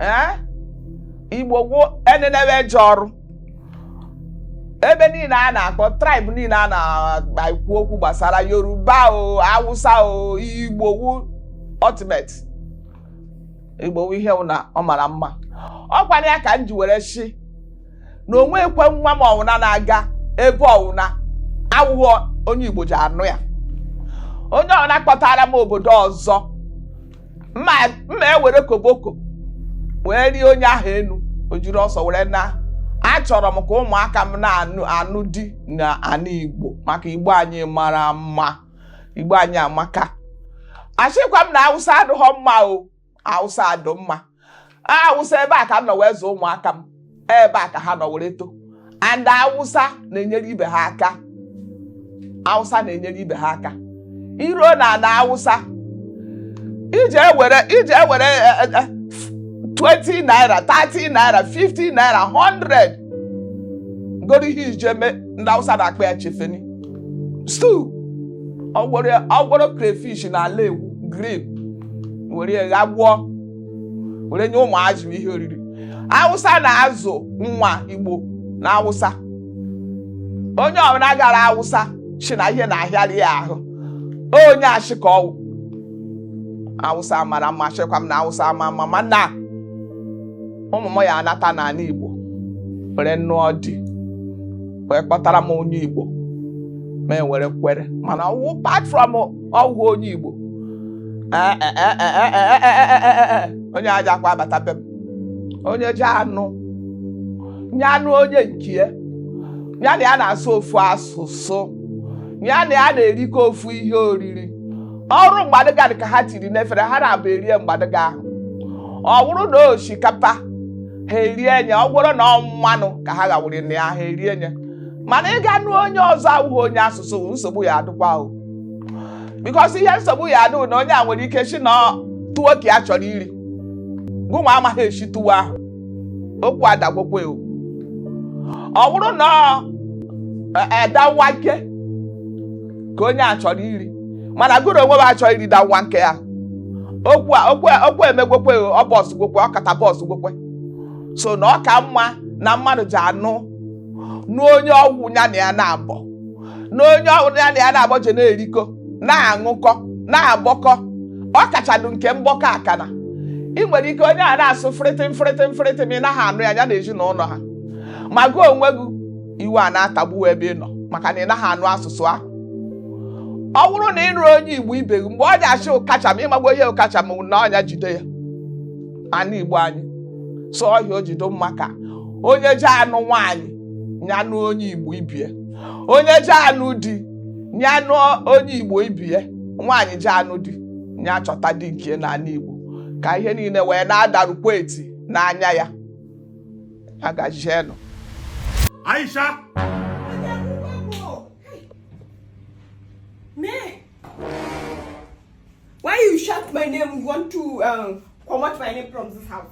ee igbo wụ enenewe eje ọrụ ebe niile a na-akpọ tribe niile a na-ekwu okwu gbasara yoruba o awụsa o igbo wụ ultimate igbo wụ ihe na ọ mara mma ọ kwara ya ka m ji were shi na onwekwe nwa m ọwụna na-aga ebe ọwụna awụghọ onye igbo ji anụ ya onye ọwụna kpọtara m obodo ọzọ m ewere koboko wee rie onye ahụ enu o jiri ọsọ were naa achọrọ m ka ụmụaka m na-anụ di n'anị igbo maka igbo anyị mara mma igbo anyị amaka ashịkwa m na awụsa adịghọ mma o awụsa dụ mma awụsa ebe a ka m nọ wee zụọ ụmụaka m ebe a ka ha nọ were too and awụsa na-enyere ibe ha aka awụsa na-enyere ibe ha aka iruo na ala awụsa ije ewere ije ewere eh, eh, eh, 20 naira 30 naira 50 naira 100 goro ihe ije eme ndị awụsa na-akpọ ya chefeni stew ọgwọrọ ọgwọrọ crayfish na alayahu green were ya ghagbuo were nye ụmụazị ihe oriri awụsa na-azụ nwa igbo na awụsa onye ọwụna gara awụsa shi na ihe na-ahịarị ya ahụ onye ashị ka ọwụ awụsa mara mma ashịkwa m na awụsa ama mma mana ụmụ m ya anata n'ala igbo were nụọ di wee kpọtara m onye igbo m ewere kwere mana ọwụ apart from ọwụghị onye Igbo onye ajakwa abata be m onye ja-anụ nya nụ onye nke ya ya na ya na-asụ ofu asụsụ ya na ya na-erikọ ofu ihe oriri ọwụrụ mgbadụga dị ka ha tiri n'efere ha naabọ erie mgbadụga ahụ ọ bụrụ na osikapa ha erie nye ọ wụrụ na ọ mmanụ ka ha ghawụrụ na ya ha erie nye mana ịga nụ onye ọzọ awụghị onye asụsụ nsogbu ya adịkwa o because ihe nsogbu ya adị na onye a nwere ike shi na tuwo ka ya chọrọ iri gụnwa amaghị esi tuwo ahụ okwu adagwokwe o ọ bụrụ na danwake ka onye a chọrọ iri mana gụrụ onwe m achọghị iri danwake ya okwu a okwu a- okwu emegwokwe o ọ burst gwokwe o kata burst gwokwe so na ọ ka mma na mmadụ ji anụ n'onye ọwụ ya na ya naabọ na onye ọbụla ya na ya na-agbọje na-erikọ na-aṅụkọ na-agbọkọ ọ kachadụ nke mgbọkọ akana ị nwere ike onye a na-asụ frịtịm frịtịm frịtịm ị naghị anụ ya ya na ezinụlọ ha ma gị onwe gị iwe a na-atagbu ebe ị nọ maka na ị naghị anụ asụsụ ahụ ọ bụrụ na ị nụrụ onye igbo ibe gị mgbe ọ na-asị ọ kacha ma ị magbo ihe ọ kacha ma na ọnya jide ya ana igbo anyị sụọ ọhịa o jido mma ka onye ji anụ nwaanyị ya nụ onye igbo ibie onye ji anụ di ya nụ onye igbo ibie nwaanyị ji anụ di ya chọta di nke n'ala igbo ka ihe niile wee na-adarukwa eti n'anya ya agajienụ Aisha Why you shout my name? You want to um, comot my name from this house?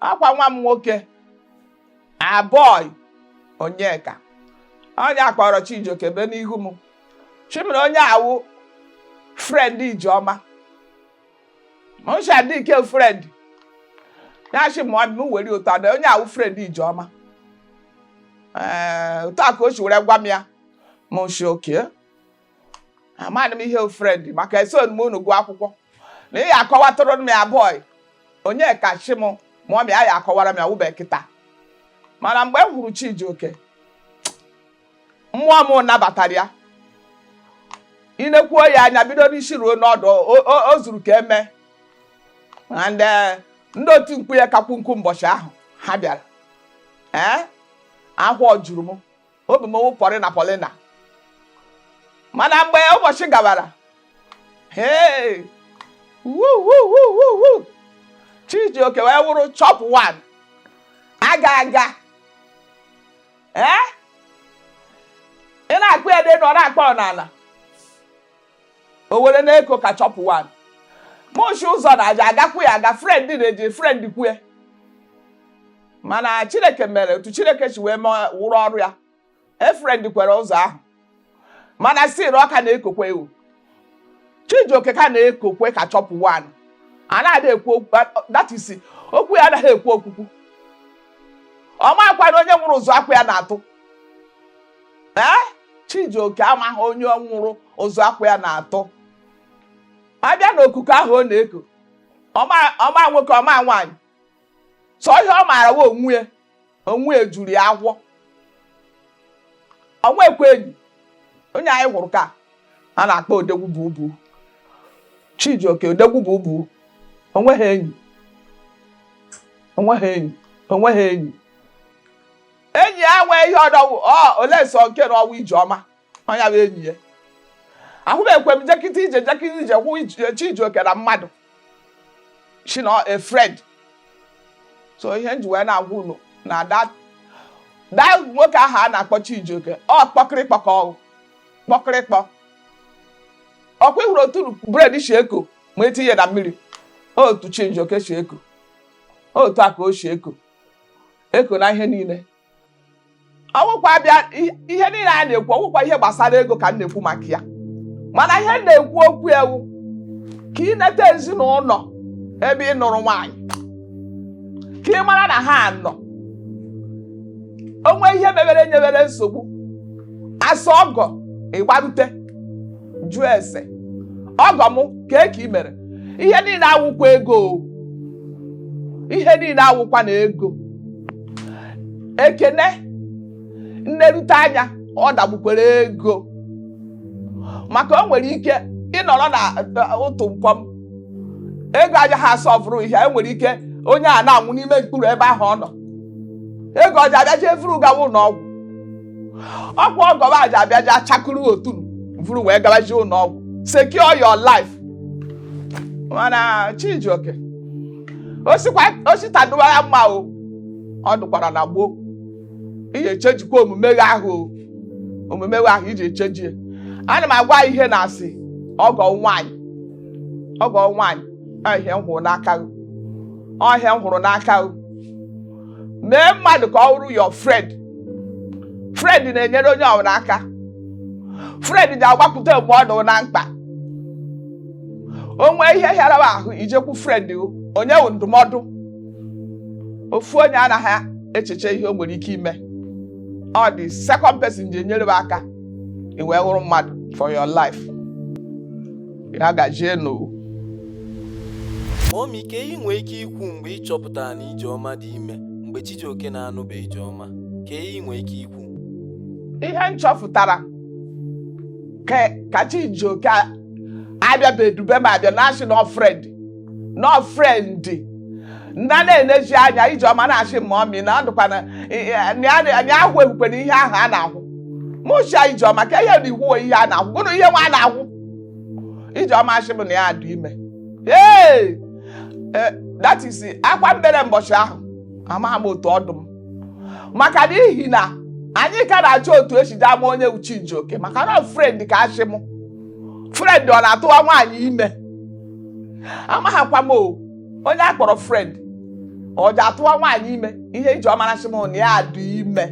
ọ kwa nwa m nwoke abọị onyeka onye akpọrọ Chijioke bịa n'ihu m shị m na onye a wụ friend ijeọma m shị ọ dị ke friend ya shị m m were otu a na onye a wụ friend ijeọma ee eh, otu a ka o si were gwa m ya mụ shị okay amadị m ihe friend maka eso m unu gụọ akwụkwọ na ị ya akọwatụrụ m ya bọị onyeka shị m ma ọ ya akọwara m ya wụbe kịta mana mgbe m hụrụ Chijioke mmụọ m nabatara ya i nekwuo ya anya bido n'isi ruo n'ọdụ o- o- o zuru ka emee na ndị ndị otu nkwu ya kakwu nkwu mbọchị ahụ ha bịara ee ahọ juru m obi m wụ pọlịna pọlịna mana mgbe ụbọchị gabara hee wuwuwuwu Chijioke wee wụrụ chop one aga aga ee ị na-akpọ ya dị na ọ na-akpọ ọ n'ala o were na-eko ka chop one mụ shị ụzọ na aja agakwu ya aga friend na-eji friend kwue mana chineke mere otu chineke si wee rụọ ọrụ ya friend kwere ụzọ ahụ mana still ọ ka na-ekokwe ewu chijioke ka na-ekokwe ka chop one anadị ekwu okwu that is okwu ya anaghị ekwu okwukwu ọ makwanụ onye nwụrụ ụzụ akwa ya na-atụ ee chijioke amaghị onye nwụrụ ụzụ akwa ya na-atụ abịa n'okuko ahụ ọ na-eko ọ ma ọ ma nwoke ọ ma nwaanyị sọ ihe ọ maara wụ onwe ya onwe ya juru ya ahọ o nwekwe enyi onye anyị hụrụ ka a na-akpọ odegwu bubu chijioke odegwu bubu o nweghị enyi o nweghị enyi o nweghị enyi enyi ya nwee ihe ọdọ wụ ọ olee sọ nke na ọ wụ Ijeọma onye bụ enyi ya ahụbekwe m jekịta ije jekịta ije kwụ ije- Chijioke na mmadụ shi na ọ friend so ihe m ji wee na-agwa unu na that that nwoke ahụ a na-akpọ Chijioke ọ kpọkịrịkpọ ka ọ wụ kpọkịrịkpọ ọkwa ị hụrụ otu bread shi eko ma e tinye na mmiri otu Chijioke shi eko otu a ka o shi eko eko na ihe niile ọ wụkwa bịa ihe niile a na-ekwu ọ wụkwa ihe gbasara ego ka m na-ekwu maka ya mana ihe m na-ekwu okwu ya wụ ka ị neta ezinụlọ ebe ị nụrụ nwaanyị ka ị mara na ha nọ o nwee ihe mebere nyewere nsogbu a sị ọgọ ị gbarute jụọ ese ọgọ m kee ka ị mere ihe niile awụkwa ego ihe niile awụkwa na ego ekene nnerute anya ọ dagbukwere ego maka o nwere ike ịnọrọ na ụtụ nkwọm ego ajaha asị vuru ihe e nwere ike onye a na-anwụ n'ime mkpuru ebe ahụ ọ nọ ego ọ ja-abịa jee vuru gawa ụlọ ọgwụ ọkwa ọgọba aja abịaja chakụrụ otu vuru wee gabaji ụlọ ọgwụ secure your life mana Chijioke o si taa dụwara mma o ọ dụkwara na gboo i je-echangekwa omume gị ahụ omume gị ahụ i je-echange ya ana m agwa ihe na-asị ọgọ nwaanyị ọgọ nwaanyị ọ ihe m hụrụ n'aka ọ ihe m hụrụ n'aka mee mmadụ ka ọ wụrụ your friend friend na-enyere onye ọbụla aka friend ja-agbakwute mgbe ọ nọ na mkpa o nwee ihe hịara m ahụ i jekwu friend o nye wụ ndụmọdụ ofu onye anaghị echeche ihe o nwere ike ime ọ dị second person je-enyere m aka i wee wụrụ mmadụ for your life ya gajienụ Mummy ka ị nwee ike ikwu mgbe ị chọpụtara na Ijeọma dị ime mgbe Chijioke na-anụbe Ijeọma ka ị nwee ike ikwu ihe m chọpụtara ka ka Chijioke abịabedube m abịa na-asị na ọ friend na ọ friend m na-enezi anya Ijeọma na-asị m Mummy na ọ dịkwa na anyị ahụ ehukwana ihe ahụ a na-ahụ m shị ya Ijeọma ka ihe na iwu ihe a na-ahụ gụnụ ihe nwa a na-ahụ Ijeọma ashị m na ya adụ ime ee eh, that is akwa m bere mbọchị ahụ amaghị m otu ọ dụ m maka n'ihi na anyị ka na-achọ otu e si je ama onye wụ Chijioke maka na ọ friend ka a shị m friend ọ na-atụwa nwaanyị ime amaghịkwa m o onye a kpọrọ friend ọ ji atụwa nwaanyị ime ihe Ijeọma asị m na ya dị ime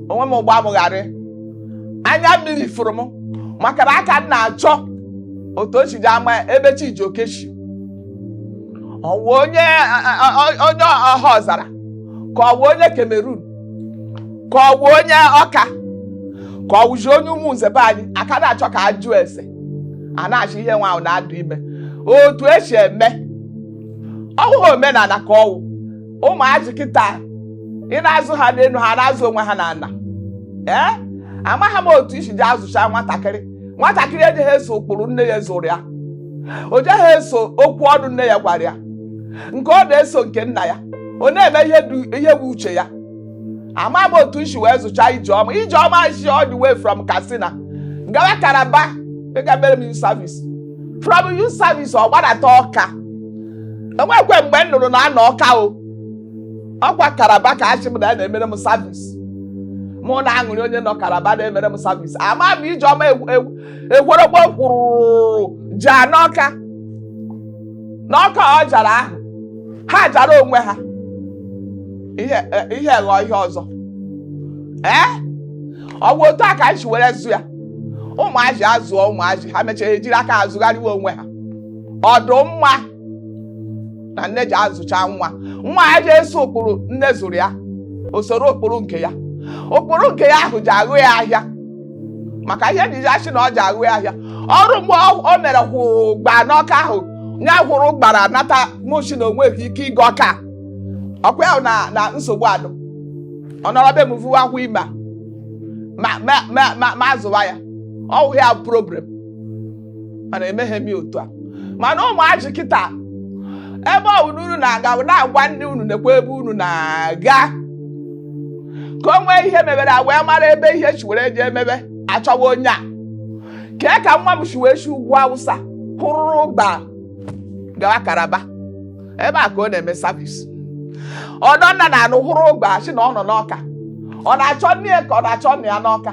onwe m ụgbọ amụgharị anya mmiri fụrụ m maka na aka m na-achọ otu o si ji ama ebe Chijioke si ọwụ onye a- a- a- onye Ọhaọzara ka ọwụ onye Cameroon ka ọwụ onye Ọka ka ọwụzi onye Ụmụnze be anyị aka na-achọ ka a jụọ ese a na-achị ihe nwa ahụ na-adụ ime otu e si eme ọhụghị omenala ka ọwụ ụmụazị kịta ị na-azụ ha n'elu ha na-azụ onwe ha n'ala ee amaghị m otu i si ji azụcha nwatakịrị nwatakịrị ejeghị eso ụkpụrụ nne ya zụrụ ya o jeghị eso okwu ọnụ nne ya gwara ya nke ọ na-eso nke nna ya ọ na-eme ihe wụ uche ya ama m otu m shi wee zụcha Ijeọma Ijeọma shi all the way from Katsina gawa Calabar ịga mere m service from youth service ọ gbadata Ọka enwekwe mgbe m nụrụ na a nọ Ọka o ọkwa Calabar ka achị m na ya na-emere m service mụ na aṅụrị onye nọ Calabar na-emere m service ama m Ijeọma ekworokpo kwụrụ jaa n'Ọka n'Ọka ọ jara ahụ ha jara onwe ha ihe eh, ihe ghọọ ihe ọzọ ee ọ bụ otu a ka m si were zụ ya ụmụazị azụọ ụmụazị ha mechaa ejiri aka azụgharịwa onwe ha ọdụ mma na nne ji azụcha nwa nwa ya ji eso ụkpụrụ nne zụrụ ya o soro ụkpụrụ nke ya ụkpụrụ nke ya ahụ ji aghụ ya ahịa maka ihe e ji achị na ọ ji aghụ ahịa ọrụ mgbe ọ- o mere hụ gba n'Ọka ahụ ya hụrụ gbara nata mụ shị na onweghị ike ịga Ọka ọkwa ya na na nsogbu adụ ọ nọrọ be m vuwa ahọ ime m azụwa ya ọwụ ya problem mana emeghe m ya otu a mana ụmụazị kịta ebe ọ bụla unu na-aga na-agwa ndị unu nekwa ebe unu na-aga ka o nwee ihe mebere a wee mara ebe ihe shi were ji emebe achọwa onye a kee ka nwa m si wee si ugwu Awụsa hụrụ gba gawa Calabar ebe a ka ọ na-eme service ọdọ nna na anụ hụrụ ụgba si na ọ nọ n'Ọka ọ na-achọ nne ya ka ọ na-achọ nna ya n'Ọka